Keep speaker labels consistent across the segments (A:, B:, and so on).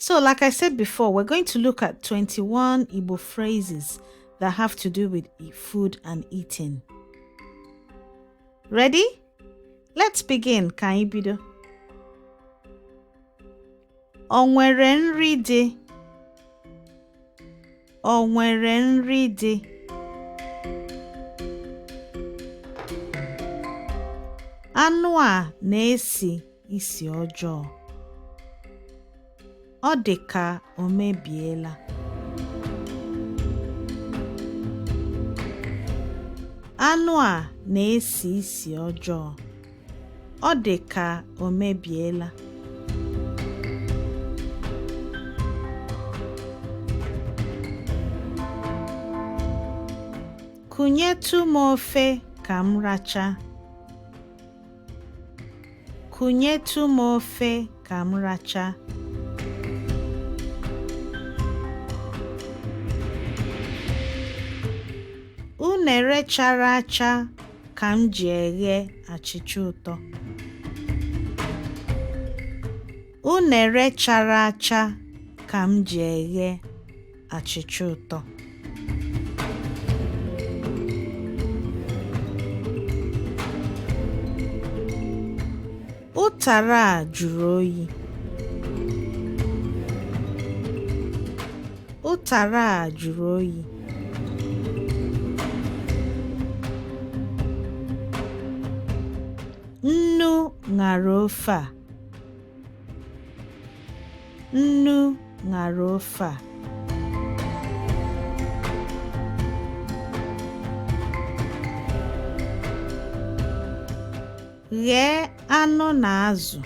A: So, like I said before, we're going to look at 21 Igbo phrases that have to do with food and eating. Ready? Let's begin, ka anyị bido. O nwere nri dị? Ọ nwere nri dị? Anụ a na-esi isi ọjọọ. Ọ dị ka o mebiela. Anụ a na-esi isi ọjọọ. Ọ dị ka o mebiela. Kunyetụ m ofe ka m racha. Kunyetụ m ofe ka m racha. Unere chara acha ka m ji eghe achịcha ụtọ. Unere chara acha ka m ji eghe achịcha ụtọ. Ụtara a jụrụ oyi. Ụtara a jụrụ oyi. Nnu ṅara ofe a. Nnu ṅara ofe a. Ghee anụ na azụ.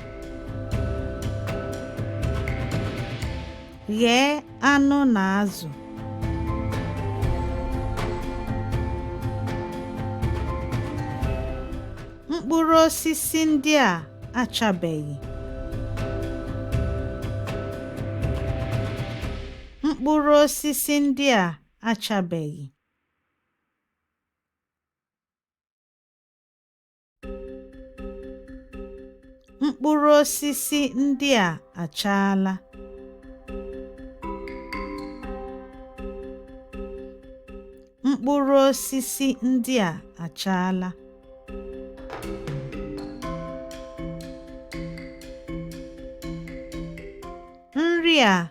A: Ghee anụ na azụ. Mkpụrụ osisi ndị a achabeghị. Mkpụrụ osisi ndị a achabeghị. Mkpụrụ osisi ndị a achaala. Mkpụrụ osisi ndị a achaala. Nri a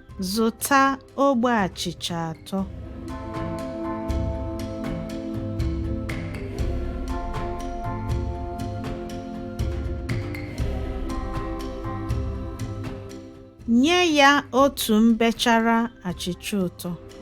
A: Zụta ogbe achịcha atọ. Nye ya otu mbechara achịcha ụtọ.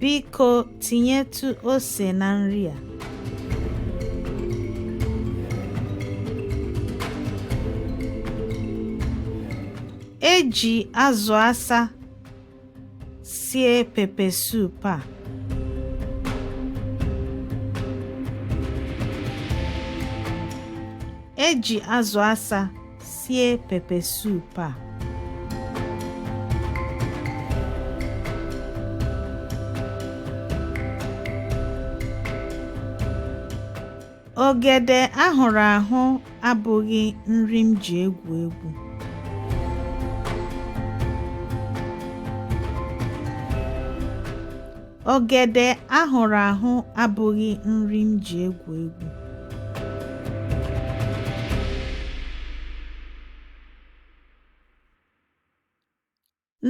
A: Biko tinyetụ ose na nri a. E ji azụ asa sie pepe soup a. E ji azụ asa Sie pepe soup a. Ogede ahụrụ ahụ abụghị nri m ji egwu egwu. Ogede ahụrụ ahụ abụghị nri m ji egwu egwu.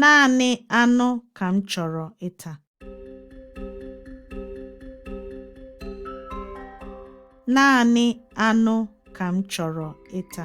A: Naanị anụ ka m chọrọ ịta. Naanị anụ ka m chọrọ ịta.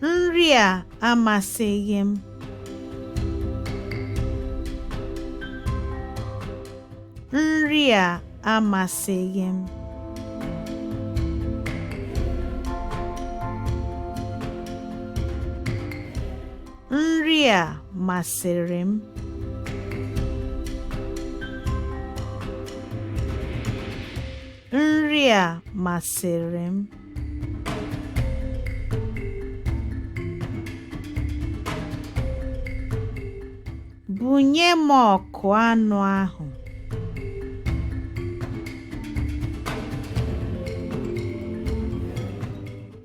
A: Nri a amasịghị m. Nri a amasịghị m. Nri a masịrị m. Nri a masịrị m. Bunye m ọkụ anụ ahụ.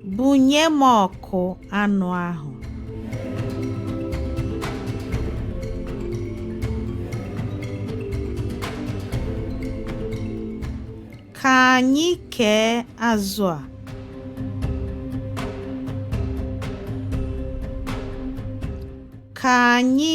A: Bunye m ọkụ anụ ahụ. Ka anyị kee azụ a. Ka anyị